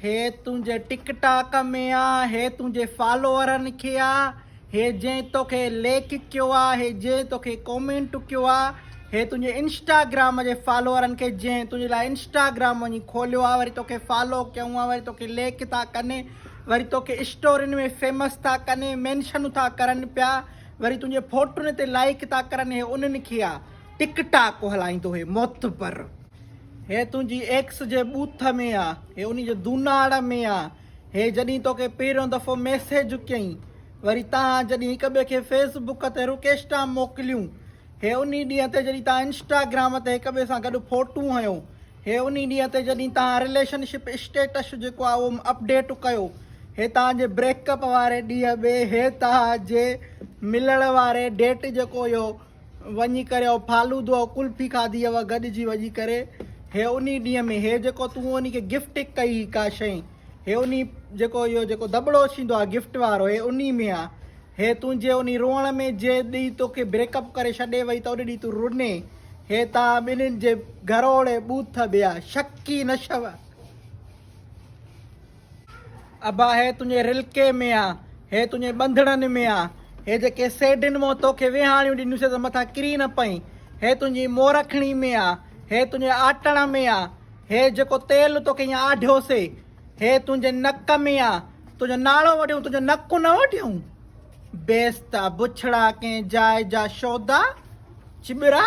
هي تنهنجي TikTok ۾ آ هي تنهنجي فالوورن کي آ هي جنهن توکي ليڪ ڪيو آ هي جنهن توکي ڪومينٽ ڪيو آ هي تنهنجي انسٽاگرام جي فالوورن کي جنهن تنهنجي لاء انسٽاگرام وڃي کوليو آ وري توکي فالو ڪيون آ وري توکي ليڪ ٿا ڪن وري توکي اسٽورين ۾ فيمس ٿا ڪن مينشنون ٿا ڪرن پيا وري تنهنجي فوٽون تي لائڪ ٿا ڪرن هي انهن کي آ ٽڪ ٽاڪ هلائيندو هي معتبر هيء تنهنجي ايڪس جي ٻوٿ ۾ آ. هيء انهي جي دوناڙ ۾ آ. هيء جڏهن توکي پهريون دفعو ميسيج ڪيئي. وري توهان جڏهن هڪ ٻئي کي فيس بڪ تي رڪيسٽا موڪليون. هيء انهي ڏينهن تي جڏهن توهان انسٽاگرام تي هڪ ٻئي سان گڏ فوٽون هنيو. هيء انهي ڏينهن تي جڏهن توهان رليشن شپ اسٽيٽس جيڪو آ اهو اپڊيٽ ڪيو. هيء توهان جي بريڪ اپ واري ڏينهن ۾ هيء توهان جي ملڻ واري ڊيٽ جيڪو اهو وڃي ڪري او فالودو او ڪلفي کاڌي او گڏجي وڃي ڪري هي انهي ڏينهن ۾ هي جيڪو تون انهي کي گفٽ ڪئي هي ڪا شئي هي انهي جيڪو اهو جيڪو دٻڙو ڇيندو آهي گفٽ وارو هي انهي ۾ آ هي تنهنجي انهي روئڻ ۾ جي ڏينهن توکي بريڪ اپ ڪري ڇڏي وئي ته ان ڏينهن تون روني هي توهان ٻنهين جي گهروڙي ٻوٿ ٻيا شڪي نشو ابا هي تنهنجي رلڪي ۾ آ، هي تنهنجي ٻنڌڻن ۾ آ، هي جيڪي سيڍين مون توکي ويهاڻيون ڏنيون سي ته مٿان ڪري نه پئين، هي تنهنجي مورکڻي ۾ آ، هي تنهنجي آٽڻ ۾ آ، هي جيڪو تيل توکي هيئن آڍيو سي، هي تنهنجي نڪ ۾ آ، تنهنجو ناڙو وڍيون، تنهنجو نڪ نه وڍيون؟ بيستا، بڇڙا، ڪنهن جاء جا شودا، چٻرا.